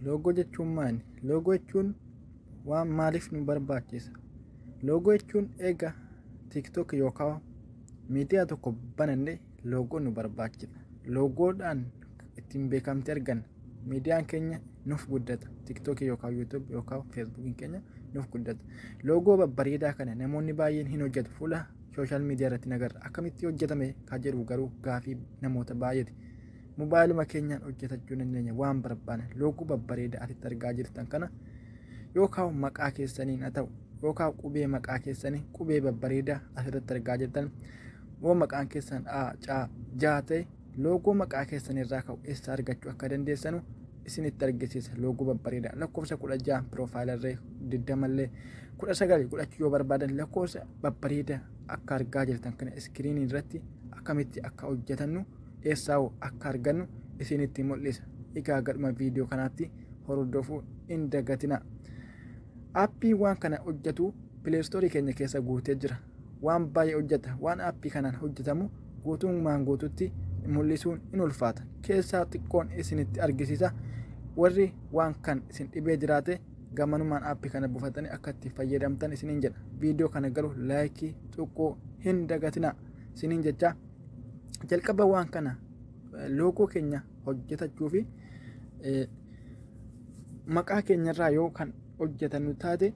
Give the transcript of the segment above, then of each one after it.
Loogoo jechuun maali? Loogoo jechuun waan maaliif nu barbaachisa? Loogoo jechuun eega TikTok yookaan miidiyaa tokko bananne loogoo nu barbaachisa. Loogoodhaan ittiin beekamtii arganna. Miidiyaan keenya nuuf guddata. TikTok yookaan YouTube yookaan Facebook keenya nuuf guddata. Loogoo babbareedaa kana namoonni baay'een hin hojjetu. Fuula sooshaal miidiyaa irratti nagarra. Akkamitti hojjetame kan jedhu garuu gaafii namoota baay'eeti. Mobaayiluma keenyaan hojjetachuu dandeenya waan barbaanne loogoo babbareedaa asitti argaa jirtan kana yookaan maqaa keessaniin haa ta'u yookaan qubee maqaa keessanii qubee babbareedaa asirratti argaa jirtan yoo maqaan keessan A, C, J ta'e loogoo maqaa keessan irraa ka'u eessa argachuu akka dandeessanu isinitti argisiisa loogoo babbareedaa lakkoofsa kudha ja'a piroofaayilirree digdamallee kudha sagal godhachuu yoo barbaadan lakkoofsa babbareedaa akka argaa jirtan kana iskiriinii irratti akkamitti akka hojjetannu eessaahu akka argannu isinitti mul'isa. Egaa gadhuma viidiyoo kanaatti hordofuu hin dagatina. Appiin waan kana hojjetu pileestoorii keenya keessa guutee jira. Waan baay'ee hojjeta. Waan appii kanaan hojjetamu guutummaan guututti mul'isuun in ulfaata. Keessaa xiqqoon isinitti argisiisa. Warri waan kan isin dhibee jiraate gamanumaan appii kana buufatanii akka itti fayyadamtan isiniin jedha. Viidiyoo kana garuu laayikii tuquu hin dagatina. Isiniin jecha jalqaba waan kana loogoo keenya hojjetachuu fi maqaa keenyarraa yoo kan hojjetannu taate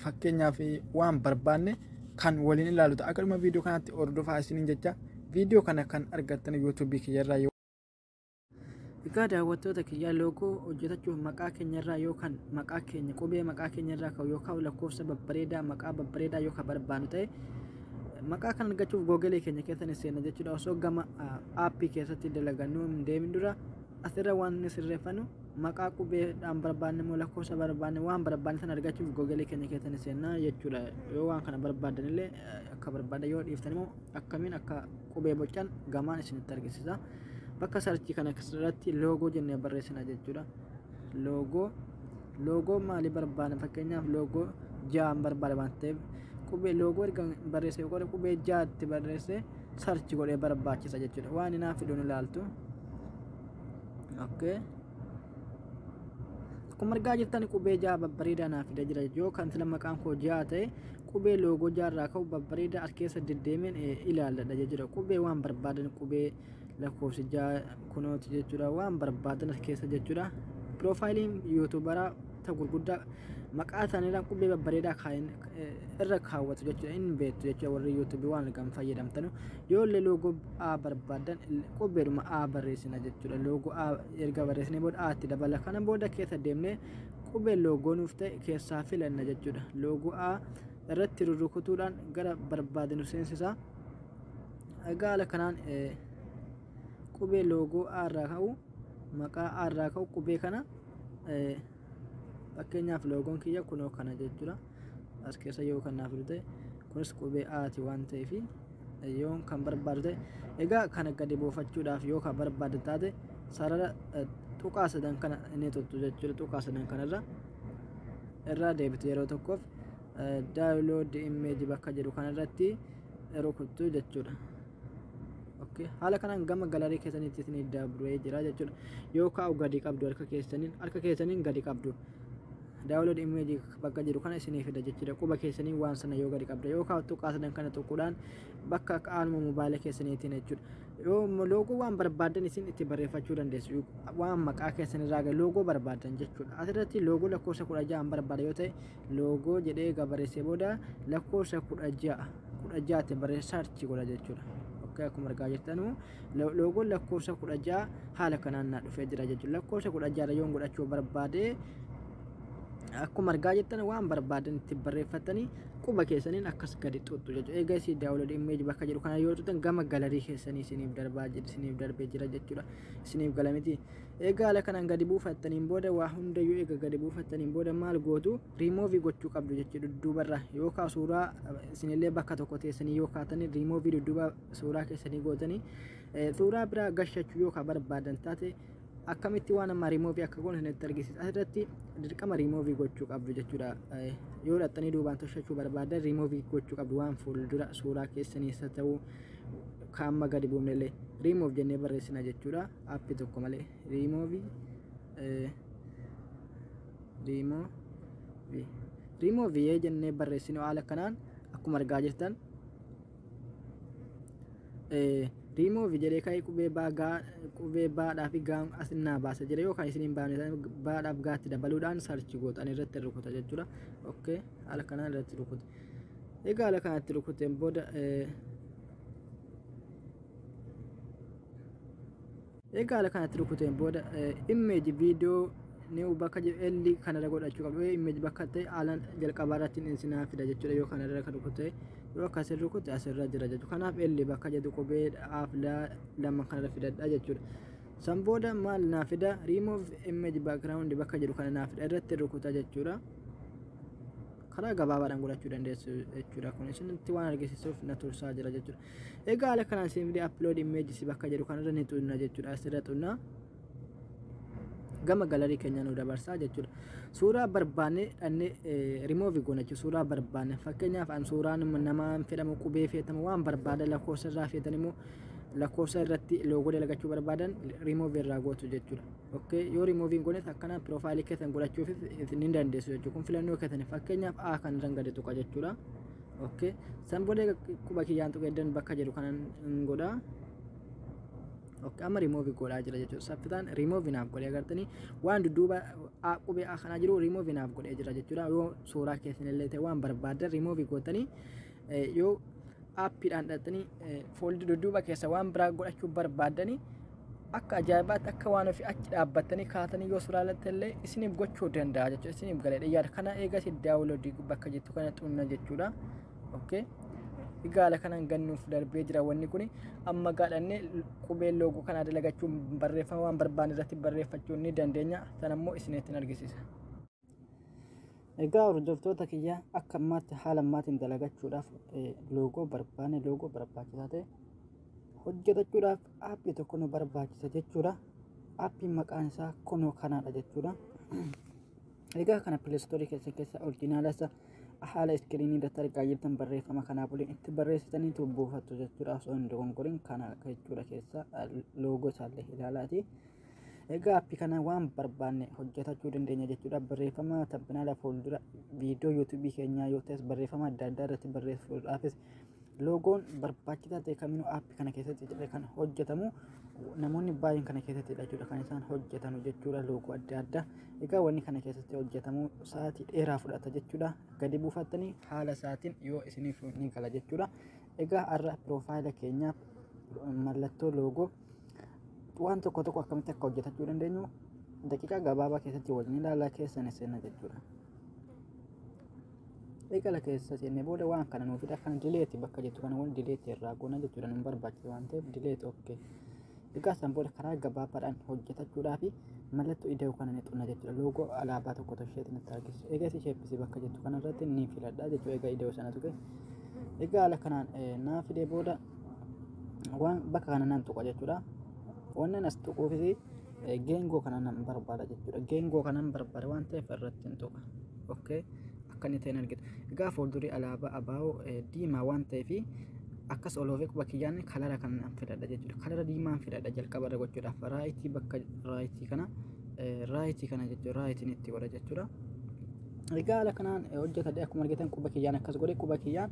fakkeenyaaf waan barbaanne kan waliin ilaalu ta'a. Akkasuma viidiyoo kanatti hordofaa isiniin jecha viidiyoo kana kan argattan yuutuubii kiyyarraa yoo Egaa daawwattoota kiyyaa loogoo hojjetachuuf maqaa keenya irraa yookaan maqaa keenya qubee maqaa keenya irraa ka'u yookaan lakkoofsa babbareedaa maqaa babbareedaa yookaan barbaannu ta'e maqaa kan argachuuf googalee keenya keessa ni seenna jechuudha osoo gama aappii keessatti dalagannu hin deemin dura asirra waan ni sirreeffannu maqaa qubeedhaan barbaanne immoo lakkoofsa barbaanne waan barbaanne sana argachuuf googalee keenya keessa ni seenna jechuudha yoo waan kana barbaadan illee akka barbaadan yoo dhiiftan immoo akkamiin akka qubee bocan gamaan isinitti argisiisa bakka sarchii kana irratti loogoo jennee barreessina jechuudha loogoo loogoo maalii barbaada fakkeenyaaf loogoo ja'an barbaada waan ta'eef qubee loogoo erga barreessee yookaan qubee ja'atti barreessee sarchi godhee barbaachisa jechuudha waan inaaf fiduun ilaaltu okay. akkuma argaa jirtan qubee ja'a babbareedaa naaf fida jira yoo kan sila maqaan koo ja'a ta'e Qubee loogoo jaarraa ka'u babbareedaa as keessa deddeemeen ilaalladha jechuudha. Qubee waan barbaadan qubee lakkoofsi ja'a kunooti jechuudha. Waan barbaadan as keessa jechuudha. Piroofaayiliin yuutuubaraa ta gurguddaa maqaa isaaniirraa qubee babbareedaa kaa'in irra kaawwatu jechuudha. Inni beektu jechuudha warri yuutuubii waan argan fayyadamtanu. Yoo illee loogoo A barbaadan qubeedhuma A barreessina jechuudha. Loogoo A erga barreessinee booda A itti dabala. Kana booda keessa deemnee Qubee loogoo nuuf ta'e keessaa filanna jechuudha. Loogoo A irratti rurrukutuudhaan gara barbaade nu seensisa. Egaa haala kanaan qubee loogoo A irraa ka'u maqaa A irraa ka'u qubee kana fakkeenyaaf loogoon kiyya kunoo kana jechuudha. as keessa yoo kan naaf ta'e kunis qubee aati waan ta'eef yoo kan barbaadu ta'e egaa kana gadi buufachuudhaaf yoo kan barbaadu taate sarara tuqaa sadan kana inni tuttu jechuudha tuqaa sadan kanarra irraa deebite yeroo tokkoof daawulood immeeji bakka jedhu kanarratti rukuttu jechuudha. Okay. haala kanaan gama galarii keessanitti isin dabree jira jechuudha yoo kaa'u gadi qabdu harka keessaniin harka keessaniin gadi qabdu download image bakka jiru kana isinii fida jechuudha quba keessanii waan sana yoo gadi qabda yoo kaa'u tuqqaatan kana tuquudhaan bakka akka aanuma mobaayila keessaniitiin jechuudha yoo loogoo waan barbaadan isin itti barreeffachuu dandeessu waan maqaa keessanirraa gadi loogoo barbaadan jechuudha asirratti loogoo lakkoofsa kudha ja'a barbaada yoo ta'e loogoo jedhee gabareessee booda lakkoofsa kudha ja'a kudha ja'aatti barreessaa archii godha jechuudha akka akkuma argaa jirtanu loogoon lakkoofsa kudha ja'a haala kanaan naa dhufee jira jechuudha lakkoofsa kudha ja'a yoon godhachuu barbaade akkuma argaa jirtan waan barbaadan itti barreeffatanii quba keessaniin akkas gadi xuxxu jechuudha egaa isii daawwalood immeeji bakka jedhu kana yoo tutan gama galarii keessanii isiniif darbaa jira isiniif darbee jira jechuudha isiniif galamiti egaa haala kanaan gadi buufattaniin booda waa hundayyuu egaa gadi buufattaniin booda maal gootu riimoovii gochuu qabdu jechuudha dudduubarra yookaan suuraa isinillee bakka tokko teessanii yoo kaatanii riimoovii dudduuba suuraa keessanii gootanii suuraa biraa gashachuu yoo ka barbaadan taate akkamitti waan amma riimoovii akka goon isinitti argisiisa asirratti dirqama riimoovii gochuu qabdu jechuudha yoo dhaxxanii duubaan toshachuu barbaadan riimoovii gochuu qabdu waan fuuldura suuraa keessaniis haa ta'u ka amma gadi buufnellee riimoov jennee barreessina jechuudha appi tokko malee riimoovii riimoovii riimoovii jennee barreessinu haala kanaan akkuma argaa jirtan riimoovi jedhee ka'ee qubee baa gaa qubee baadhaa fi gaa asinnaa baasa jedhe yoo kan isiniin baane baadhaaf gaatti dabaluudhaan sarchi gootan irratti rukuta jechuudha okkee haala kanaan irratti rukute egaa haala kanatti rukuteen booda Egaa ala kanatti rukuteen booda image video new bakka L kanarra godhachuu qabdu image bakka ta'e ala jalqabaa irratti hin sinaa fida jechuudha yoo kanarra kan rukute yoo akkas hin rukute asirra jira jechuudha kanaaf L bakka jedhu qubee dhaaf lama kanarra fidadha jechuudha. San booda maal naa fida remove image background bakka jedhu kana naa fida irratti rukuta jechuudha. Karaa gabaabaadhaan godhachuu dandeessu jechuudha kun isinitti waan argisiisuuf na tursaa jira jechuudha. Egaa haala kanaan isin fide upload images bakka jedhu kanarra ni xunna jechuudha asirra xunna. gama galarii keenya nu dabarsaa jechuudha. Suuraa barbaanne dhannee remove goona jechuudha. Suuraa barbaanne fakkeenyaaf an suuraan namaan fedhamu qubee feetamu waan barbaada lakkoofsa irraa feetan immoo lakkoofsa irratti loogoo dalagachuu barbaadan remove irraa gootu jechuudha. Okay yoo remove hin goones akkana piroofaayilii keessan godhachuuf ni dandeessu jechuudha. Kun filannoo keessan fakkeenyaaf A kan irraan gadi tuqa jechuudha. okay san booda egaa quba kiyyaan tuqee dan bakka jedhu kanan hin godha okay amma remove godhaa jira jechuudha saffitaan remove naaf godhee agartanii waan dudduuba a qubee a kanaa jiru remove naaf godhee jira jechuudha yoo suuraa keessan illee ta'e waan barbaaddan remove gootanii eh, yoo aappiidhaan dhattanii fooldi dudduuba keessa waan biraa godhachuu barbaaddanii akka ajaa'ibaatti akka waan ofii achi dhaabbattanii kaatanii yoo sulaalatti illee isiniif gochuu danda'a jechuudha isiniif galee dhiyyaadha kana eegas daawuloodii bakka jettu kana xunna jechuudha okay gaala kanan gannuuf darbee jira wanni kun amma gaadhanne qubee loogoo kanaa dalagachuun barreeffama waan barbaanne irratti barreeffachuu ni dandeenya sanammoo isinitti argisiisa. Egaa hordoftoota kiyya akka ammaatti haala ammaatiin dalagachuudhaaf loogoo barbaanne loogoo barbaachisaa ta'e hojjetachuudhaaf aappii tokko nu barbaachisa jechuudha. Aappiin maqaan isaa kunoo kanaadha jechuudha. Egaa kana pileestoorii keessa keessa orjinaala isa haala iskiriinii irratti argaa jirtan barreeffama kanaa waliin itti barreessitanii buufattu jechuudha. Osoo hin dogongoriin kana jechuudha keessa loogoo isaallee ilaalaati. Egaa appi kana waan barbaanne hojjetachuu dandeenya jechuudha. Barreeffama tabbinaala fuuldura viidiyoo yuutuubii keenyaa yoo ta'es barreeffama adda addaa irratti barreessuudhaafis loogoon barbaachisaa ta'e kaminuu appi kana keessatti jedhe kan hojjetamu namoonni baay'een kana keessatti jechuudha kan isaan hojjetan jechuudha loogoo adda addaa. Egaa wanni kana keessatti hojjetamu sa'aatii dheeraa fudhata jechuudha. Gadi buufattanii haala isaatiin yoo isiniif ni gala jechuudha. Egaa har'a piroofaayila keenyaaf mallattoo loogoo waan tokko tokko akkamitti akka hojjetachuu dandeenyu daqiiqaa gabaabaa keessatti waliin ilaalaa keessa ni seenna jechuudha. Eegala keessa seennee booda waan kana nuuf fida kana dileeti bakka jettu kana wal dileeti irraa goona jechuudha nu barbaachisa waan ta'eef dileeti okkee. Egaa san booda karaa gabaabaadhaan hojjetachuudhaa fi mallattoo ida'uu kana ni xunna jechuudha. Loogoo alaabaa tokko tosheetti nutti argisiisu. Egaa si sheebbisii bakka jettu kanarratti ni filadha jechuudha. Egaa ida'uu sana tuqe. Egaa haala kanaan naaf fidee booda waan bakka kana nan tuqa jechuudha wannan as tuquufis geengoo kana nan barbaada jechuudha geengoo kanan barbaada waan ta'eef irratti hin tuqa okay akka inni ta'e argita egaa fuuldurii alaabaa abaa'oo diimaa waan ta'eef akkas oloofee quba kiyyaan kalara kan nan filadha jechuudha kalara diimaan filadha jalqaba irra gochuudhaaf raayitii bakka raayitii kana raayitii kana jechuudha raayitiin itti godha jechuudha. Egaa haala kanaan hojjetadhe akkuma argitan quba kiyyaan akkas godhe quba kiyyaan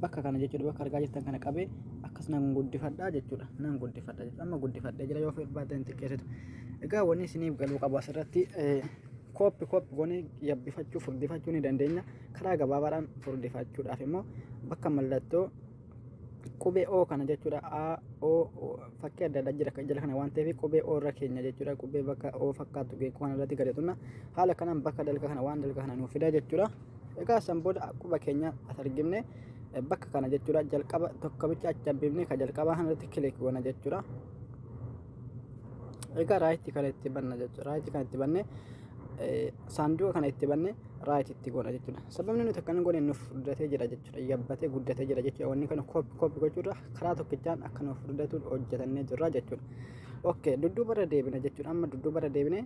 bakka kana jechuudha bakka argaa jirtan kana qabee akkas nan guddifadha jechuudha nan guddifadha jechuudha amma guddifadha jira yoo barbaadan xiqqeessitu egaa wanni isiniif galuu qabu asirratti kooppi kooppi goonee yabbifachuu furdifachuu ni dandeenya karaa gabaabaadhaan furdifachuudhaaf immoo bakka mallattoo qubee o kana jechuudha a o fakkii adda addaa jira jala kana waan ta'eef qubee o irra keenya jechuudha qubee bakka o fakkaatu geekoo kana irratti gadi tunna haala kanaan bakka dalga kana waan dalga kana nuuf fidaa jechuudha egaa san booda quba keenya as argimne bakka kana jechuudha jalqaba tokko bicha achi hambifne ka jalqabaa kana irratti kilik goona jechuudha egaa raayitti kana itti banna jechuudha raayitti kana itti banne saanduqa kana itti banne raayitti itti goona jechuudha sababni nuti akkana goone nuuf furdatee jira jechuudha yabbatee guddatee jira jechuudha wanni kana kooppi kooppi gochuudha karaa tokkichaan akka nuuf furdatuun hojjetannee jirra jechuudha ok dudduubarra deebina jechuudha amma dudduubarra deebine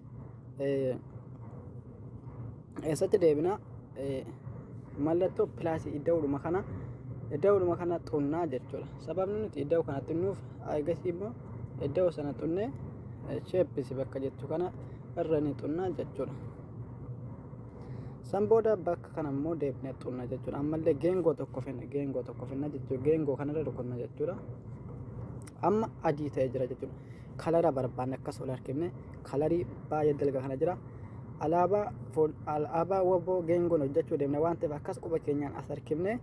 eessatti deebina mallattoo pilaasii idda'uudhuma kana idda'uudhuma kana xunnaa jechuudha sababni nuti idda'u kana xunnuuf eegasii immoo idda'u sana xunnee sheeppisi bakka jettu kana irra ni xunnaa jechuudha san booda bakka kana immoo deebinee xunna jechuudha ammallee geengoo tokko finna geengoo tokko finna jechuudha geengoo kanarra rukunna jechuudha amma adii ta'ee jira jechuudha kalara barbaanne akkas ol harkifne kalarii baay'ee dalga kana jira alaabaa alaabaa waboo geengoon hojjechuu deemna waan ta'eef akkas quba keenyaan as harkifne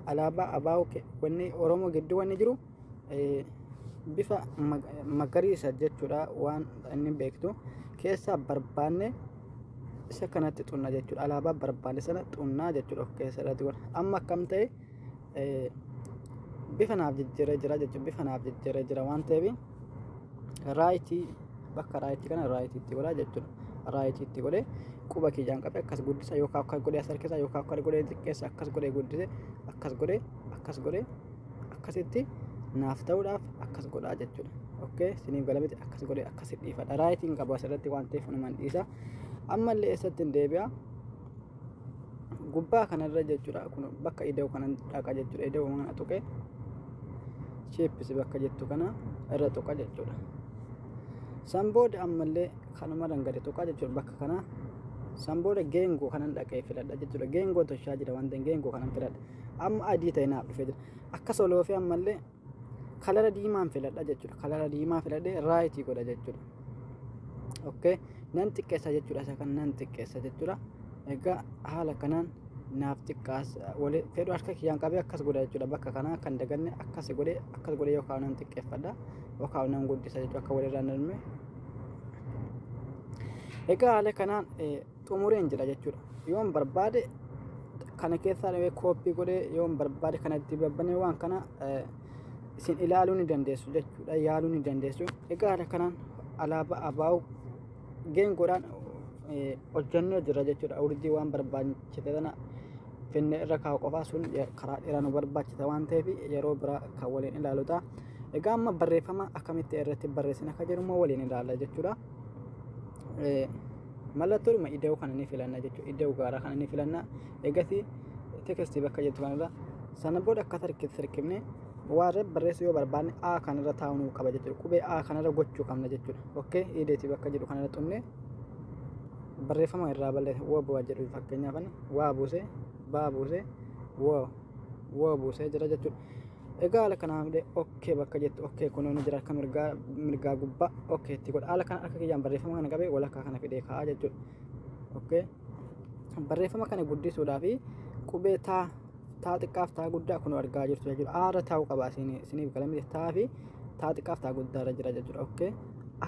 alaabaa abaa'oo wanni oromoo gidduu wanni jiru bifa magariisa jechuudha waan inni beektu keessaa barbaanne isa kanatti xunna jechuudha alaabaa barbaanne sana xunnaa jechuudha of keessa irratti amma akkam ta'e eh, bifa naaf jijjiiree jira jechuun bifa naaf jijjiiree jira waan ta'eef raayitii bakka raayitii kana raayitii itti godhaa jechuudha. Raayitii itti godhee quba kiyyaan qabee akkas guddisa yookaan akkas godhee as harkisa yookaan akkas godhee xiqqeessa akkas godhee guddise akkas godhee akkas godhee akkasitti naaf ta'uudhaaf akkas godhaa jechuudha. Okkee siniif galamiti akkas godhee akkas dhiifadha. Raayitiin qabu asirratti waan ta'eef numan dhiisa. Ammallee eessatti hin deebi'a. gubbaa kanarra jechuudha kun bakka ida'u kanan dhaqa jechuudha ida'u kana tuqe sheeppisi bakka jettu kana irra tuqa jechuudha san booda ammallee kanumarran gadi tuqa jechuudha bakka kana san booda geengoo kanan dhaqee filadha jechuudha geengoo toshaa jira waan ta'eef geengoo kanan filadha amma adii ta'e naaf dhufee jira akka soloofee ammallee kalara diimaan filadha jechuudha kalara diimaa filadhee raayitii godha jechuudha okay nan xiqqeessa jechuudha isa kan nan xiqqeessa jechuudha egaa haala kanaan naaf xiqqaas wali fedhu harka kiyyaan qabee akkas godha jechuudha bakka kanaa kan daganne akkas godhe akkas godhe yookaan nan xiqqeeffadha yookaan nan guddisa jechuudha akka walirraa hin darbine egaa haala kanaan xumureen jira jechuudha yoon barbaade kana keessaa dhawee kooppii godhee yoon barbaade kana itti babbanee waan kana eh, isin ilaaluu ni dandeessu jechuudha yaaluu ni dandeessu egaa haala kanaan alaabaa abaa'u geengoodhaan eh, hojjannee jira jechuudha urjii waan barbaachise sana finne irra kaa'u qofaa sun eh, karaa dheeraa nu barbaachisa waan ta'eef yeroo biraa kan waliin ilaalu ta'a egaa amma barreeffama akkamitti irratti barreessina akka jedhu immoo waliin ilaalla jechuudha. Eh, Mallattoodhuma ida'uu kana ni filanna jechuudha. Ida'uu gaaraa kana ni filanna. Eegasii tekstii bakka jettu kanarra sana booda akka tarkiitti sirkifne waarree barreessuu yoo barbaanne A kanarra taa'uu nuu qaba jechuudha. Qubee A kanarra gochuu qabna jechuudha. Okkee ideetii bakka jedhu kanarra xumne barreeffama irraa balleessa woo bu'aa jedhu fakkeenyaaf ani waa buusee baa buusee woo woo buusee jira jechuudha. Egaa haala kanaa malee okkee bakka jettu okkee kunoo ni jira akka mirgaa mirgaa gubbaa okkee itti godha. Haala kana akka kiyyaan barreeffama kana qabee walakkaa kana fidee kaa'a jechuudha. Okkee barreeffama kana guddisuudhaaf qubee taa taa xiqqaaf taa guddaa kunoo argaa jirtu jechuudha. Aara taa'uu qaba isiniif galamee taa fi taa xiqqaaf taa guddaa irra jira jechuudha. Okkee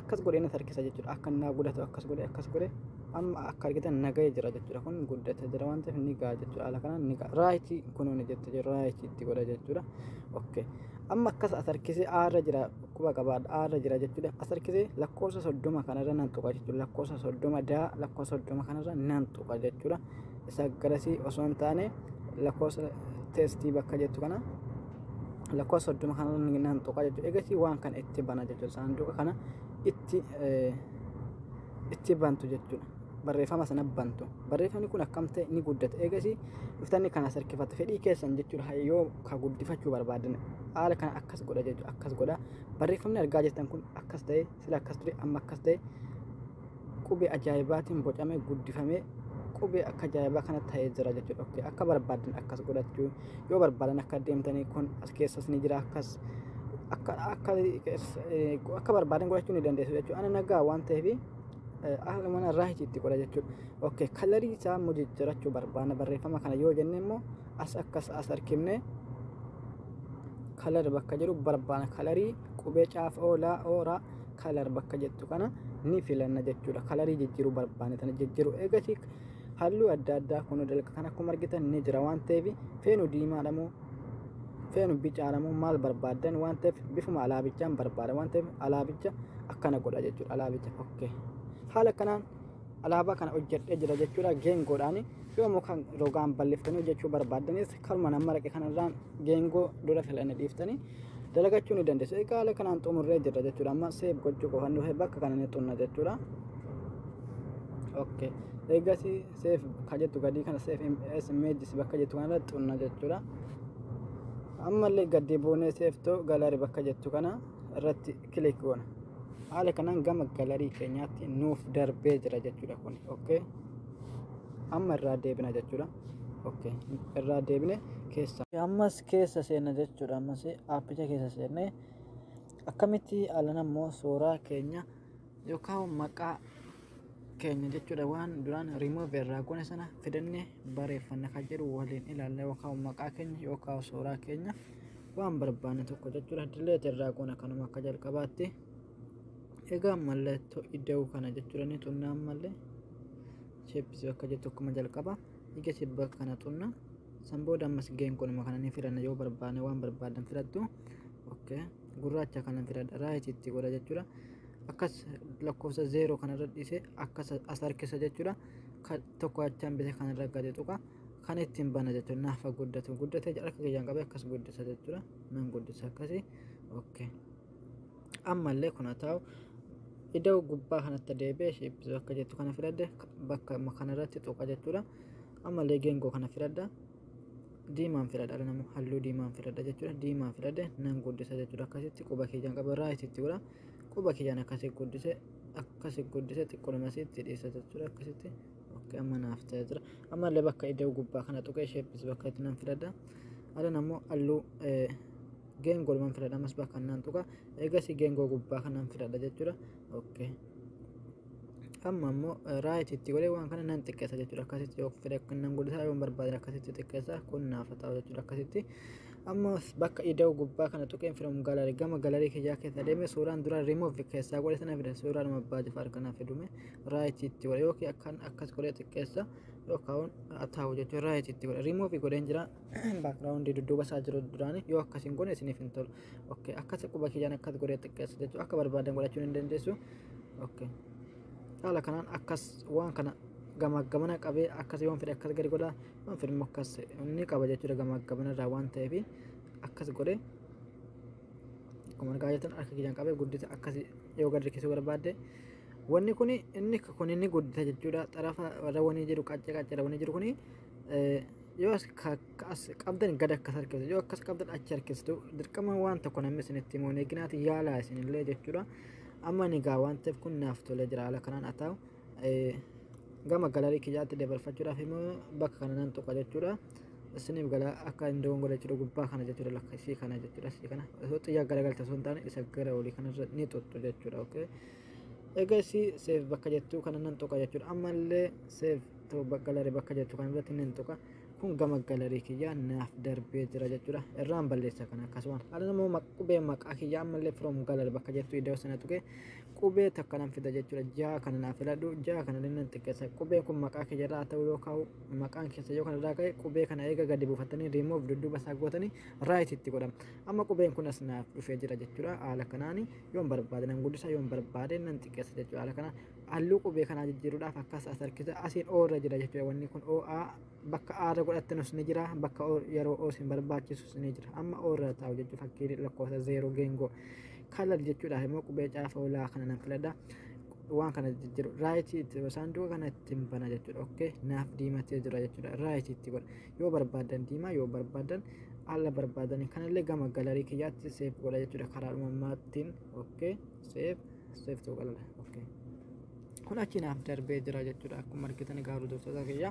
akkas godhee na harkisa jechuudha. Akka naa gudatu akkas godhee akkas godhee. amma akka argitan nagaya jira jechuudha kun guddata jira waan ta'eef ni ga'a jechuudha haala kanaan ni ga'a raayitii kunuuni jette jira raayitii itti godha jechuudha okay amma akkas as harkisee aarra jira quba qabaadha aarra jira jechuudha as harkisee lakkoofsa soddoma kanarra nan tuqa jechuudha lakkoofsa soddoma daa lakkoofsa soddoma kanarra nan tuqa jechuudha isa garasii osoo hin taane lakkoofsa teestii bakka jettu kana lakkoofsa soddoma kanarra nan tuqa jechuudha egasii waan kana itti bana jechuudha saanduqa kana itti itti bantu jechuudha. Barreeffama sana bantu. Barreeffamni kun akkam ta'e ni guddata. Eegasii dhuftanni kana sarkifatu fedhii keessan jechuudha. Yoo ka guddifachuu barbaadan haala kana akkas godha jechuudha. Akkas godha. Barreeffamni argaa jirtan kun akkas ta'e sila akkas ture amma akkas ta'e qubee ajaa'ibaatiin bocamee guddifamee qubee akka ajaa'ibaa kana ta'ee jira jechuudha. Akka barbaadan akkas godhachuu. yoo barbaadan akka deemtanii kun as keessas ni jira akkas akka akka akka barbaadan godhachuu ni dandeessu jechuudha ana nagaa waan ta'eef haala mana irraa itti godha jechuudha okay kalarii isaa immoo jijjiirachuu barbaadna barreeffama kana yoo jenne immoo as akkas as harkifne kalar bakka jiru barbaadna kalarii qubee caaf oolaa ooraa kalar bakka jettu kana ni filanna jechuudha kalarii jijjiiruu barbaadna tana jijjiiruu eegasii halluu adda addaa kun dalga kan akkuma argitan ni jira waan ta'eef feenu diimaadha moo feenu bicaadha moo maal barbaaddan waan ta'eef bifuma alaabichaan barbaada waan ta'eef alaabicha akkana godha jechuudha alaabicha okkee haala kanaan alaabaa kana hojjedhee jira jechuudha geengoodhaan yoomuu kan rogaan balleeffanii hojjechuu barbaaddanis Karuma nama raqe kanarraan geengoo dura filanne dhiiftanii dalagachuu ni dandeessu. Egaa haala kanaan xumurree jirra jechuudha. Amma seef gochuu qofan dhufe bakka kana ni xunna jechuudha. Okay. Eeggasi seef ka jettu gadii kana seef MS images bakka jettu kanarra xunna jechuudha. Ammallee gaddi buunee seeftoo galaari bakka jettu kana irratti click goona haala kanaan gama galarii keenyaatti nuuf darbee jira jechuudha kun okay amma irraa deebina jechuudha okay irraa deebine keessa ammas keessa seenna jechuudha ammas aappicha keessa seennee akkamitti alan ammoo suuraa keenya yookaan maqaa keenya jechuudha waan duraan remove irraa goone sana fidannee bareeffanna kan jedhu waliin ilaalla yookaan maqaa keenya yookaan suuraa keenya waan barbaanne tokko jechuudha delete irraa goona kanuma akka jalqabaatti egaa mallattoo iddoo kana jechuudha ni tunnaa ammallee shapes bakka jettu akkuma jalqaba ija shibba kana tunna san booda ammas geen kunuma kana ni filanna yoo barbaanne waan barbaadan filattu okay gurraacha kana filadha raayititti godha jechuudha akkas lakkoofsa zeeroo kanarra dhiise akkas as harkisa jechuudha Ka- tokko achaan bite kanarra gadi tuqa kan ittiin bana jechuudha naafa guddatu guddate harka kiyyaan qabee akkas guddisa jechuudha nan guddisa akkasi okay ammallee kun haa ta'u iddoo gubbaa kanatti deebi'ee shiippisu akka jettu kana filadhe bakka amma kanarratti tuqa jechuudha ammallee geengoo kana filadha diimaan filadha dhala nama halluu diimaan filadha jechuudha diimaan filadhe nan guddisa jechuudha akkasitti quba kiyyaan qaba irraa itti godha quba kiyyaan akkasi guddise akkasi guddise xiqqoodhuma asitti dhiisa jechuudha akkasitti okay amma naaf ta'ee jira amma illee bakka iddoo gubbaa kana tuqee sheeppis bakka itti nan filadha adan ammoo halluu geengoo ilman filadha ammas bakka nan tuqa eegasii geengoo gubbaa kanan filadha jechuudha okay amma ammoo raayit itti godhee waan kana nan xiqqeessa jechuudha akkasitti yoo fedhe kan nan guddisaa yoo barbaade akkasitti xiqqeessa kun naaf ta'u jechuudha akkasitti amma bakka ida'u gubbaa kana tuqeen from gallery gama gallery kiyyaa keessa deeme suuraan dura remove keessaa godhe sana fida suuraan abbaa jifaar kana fidume right itti godhe yookiin akkan akkas godhe xiqqeessa yookaan ataa'u jechuun right itti godhe remove godheen jira background dudduuba isaa jiru duraanii yoo akkas hin godhe isiniif hin tolu okay akkas quba kiyyaan akkas godhe xiqqeessa jechuun akka barbaadan godhachuu ni dandeessu okay haala kanaan akkas waan kana gamaa gamana qabee akkas yoon fedhe akkas gadi godha filma akkas inni qaba jechuudha gamaaggaman irraa waan ta'eef akkas godhe akkuma argaa jirtan harka kiyyaan qabee guddisa akkas yoo gad rikkisuu barbaadde wanni kun inni kun inni guddisa jechuudha xarafa irra wanii jiru qaccee qaccee irra wanii jiru kun yoo as ka- ka- as qabdan gad akkas harkistu yoo akkas qabdan achi harkistu dirqama waan tokko namni isinitti himuun eeginaati yaalaa isinillee jechuudha amma ni gaa waan ta'eef kun naaf tolee jira haala kanaan haa ta'u gama galarii kiyyaatti dabarfachuudhaaf immoo bakka kana nan tuqa jechuudha. Isiniif gala akka hin dogongore jechuudha gubbaa kana jechuudha lakka isii kana jechuudha isii kana osoo xiyyaa garagalta osoo hin taane isa gara olii kanarra ni tuttu jechuudha okay. Egaa isii seef bakka jettuu kana nan tuqa jechuudha ammallee seef ta'u galarii bakka jettu kana irratti nan tuqa. kun gama galarii kiyyaa naaf darbee jira jechuudha irraan balleessa kana akkasumas haala namoo qubee maqaa kiyyaa ammallee from galari bakka jettu iddoo sana tuqee qubee takka nan fida jechuudha ja'a kana naa filadhu ja'a kana nan xiqqeessa qubeen kun maqaa kee jalaa ta'uu yoo kaa'u maqaan keessa yoo kanarraa ka'e qubee kana eega gadi buufattanii riimoof dudduuba isaa gootanii raayit itti godhama amma qubeen kun as naaf dhufee jira jechuudha haala kanaan yoon barbaade nan guddisa yoon barbaade nan xiqqeessa jechuudha haala kanaan halluu qubee kanaa jijjiiruudhaaf akkas as harkisa asiin oo irra jira jechuudha wanni kun oo bakka aarra godhattanus ni jira bakka yeroo oos hin barbaachisus ni jira amma oorra taa'u jechuun fakkii lakkoofsa zeeroo geengoo kalar jechuudha immoo qubee caafa olaa kana nan filadha waan kana jijjiiru raayitii itti saanduqa kana ittiin bana jechuudha okkee naaf diimatee jira jechuudha raayitii itti godha yoo barbaadan diimaa yoo barbaadan alla barbaadan kanallee gama galarii kiyyaatti seef godha jechuudha karaa uumamaatiin okkee seef seef tuqalala okkee. kun achi naaf darbee jira jechuudha akkuma argitan egaa hordoftoota kiyya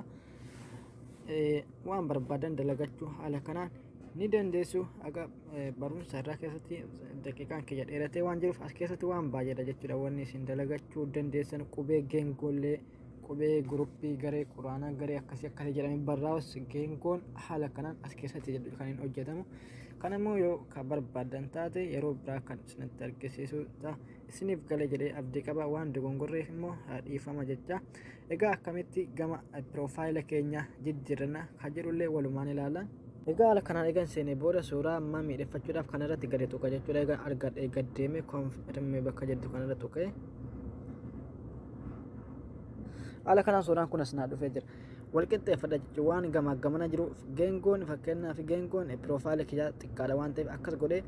waan barbaadan dalagachuu haala kanaan ni dandeessu aga barumsa irraa keessatti daqiiqaan kiyya dheeratee waan jiruuf as keessatti waan baay'eedha jechuudha wanni isin dalagachuu dandeessan qubee geengollee qubee guruppii garee quraanaa garee akkasii akkasii jedhamee barraa'us geengoon haala kanaan as keessatti jedhu kan hin hojjetamu kan immoo yoo kan barbaadan taate yeroo biraa kan isinitti argisiisu ta'a. isiniif gale jedhee abdii qaba waan dogongorreef immoo dhiifama jecha egaa akkamitti gama piroofaayila keenya jijjiirrana kan jedhullee walumaan ilaala. Egaa haala kanaan eegan seenee booda suuraa ammaa miidheffachuudhaaf kan irratti gadi tuqa jechuudha egaa argadhee gad deemee konfirmii bakka jettu kan irra tuqee haala kanaan suuraan kun as naa dhufee jira. wal qixxeeffadha jechuun waan gamaa gamana jiru geengoon fakkeenyaaf geengoon piroofaayilii kiyyaa xiqqaadha waan ta'eef akkas godhee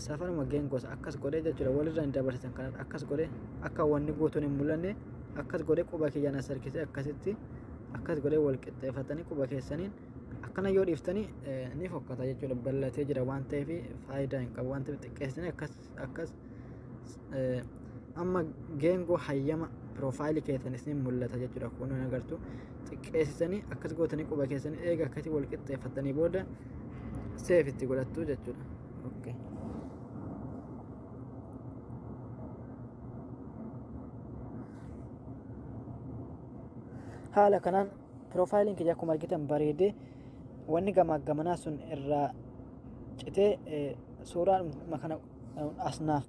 safaruma geengoos akkas godhee jechuudha walirra hin dabarsitan kan akkas godhee akka wanni guutuun hin mul'anne akkas godhee quba kiyyaan as harkisee akkasitti akkas godhee wal qixxeeffatanii quba keessaniin akkana yoo dhiiftanii ni fokkata jechuudha bal'atee jira waan ta'eef faayidaa hin qabu waan ta'eef xiqqeessanii akkas akkas eh, amma geengoo hayyama piroofaayilii keessan isin mul'ata jechuudha kun hin agartu xiqqeessisanii akkas gootanii quba keessanii eega akkasii wal qixxeeffattanii booda seef itti godhattu jechuudha. Okay. haala kanaan Piroofaayiliin kiyya akkuma argitan bareedee wanni gamaaggamanaa sun irraa citee suuraadhuma kana asnaaf.